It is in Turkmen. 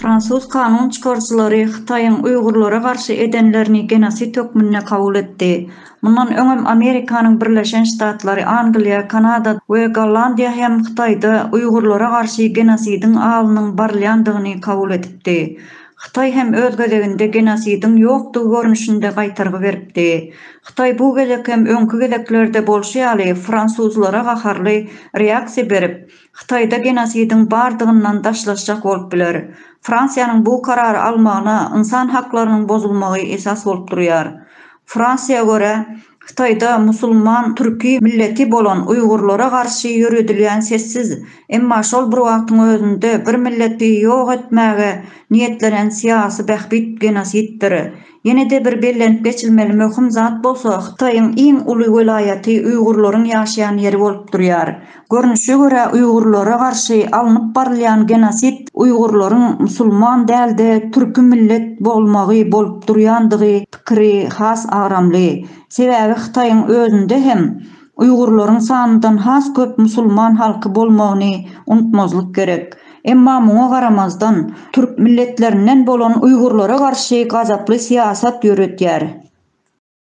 Fransuz kanun çykaryjylary Hytaýyň uýgurlara garşy edenlerini genosid hökmünde kabul etdi. Mundan öňem Amerikanyň Birleşen Ştatlary, Angliýa, Kanada we Gollandiýa hem Hytaýda uýgurlara garşy genosidiň alynyň barylýandygyny kabul edipdi. Hytaý hem öz gezeginde genosidiň ýokdugy görnüşinde gaýtargy beripdi. Hytaý bu gezek hem öňki gezeklerde bolşy ýaly fransuzlara gaharly reaksiýa berip, Hytaýda genosidiň bardygyndan daşlaşjak bolup biler. Fransiýanyň bu karary almagyna ynsan haklarynyň bozulmagy esas bolup durýar. Fransiýa görä, Hytaýda musulman türki milleti bolan uýgurlara garşy ýöredilýän sessiz, emma şol bir wagtyň özünde bir milleti ýok etmäge niýetlenen syýasy bähbit genosiddir. Ýene-de bir bellenip geçilmeli möhüm zat bolsa Hytaýyň iň uly welaýaty uýgurlaryň ýaşaýan ýeri bolup durýar. Görnüşe görä uýgurlara garşy alnyp barylýan genosid uýgurlaryň musulman dälde türki millet bolmagy bolup durýandygy pikiri has agramly. Sebäbi Hytaýyň özünde hem uýgurlaryň sanyndan has köp musulman halky bolmagyny unutmazlyk gerek. Emma muňa garamazdan türk milletlerinden bolan uýgurlara garşy gazaply syýasat ýöretýär.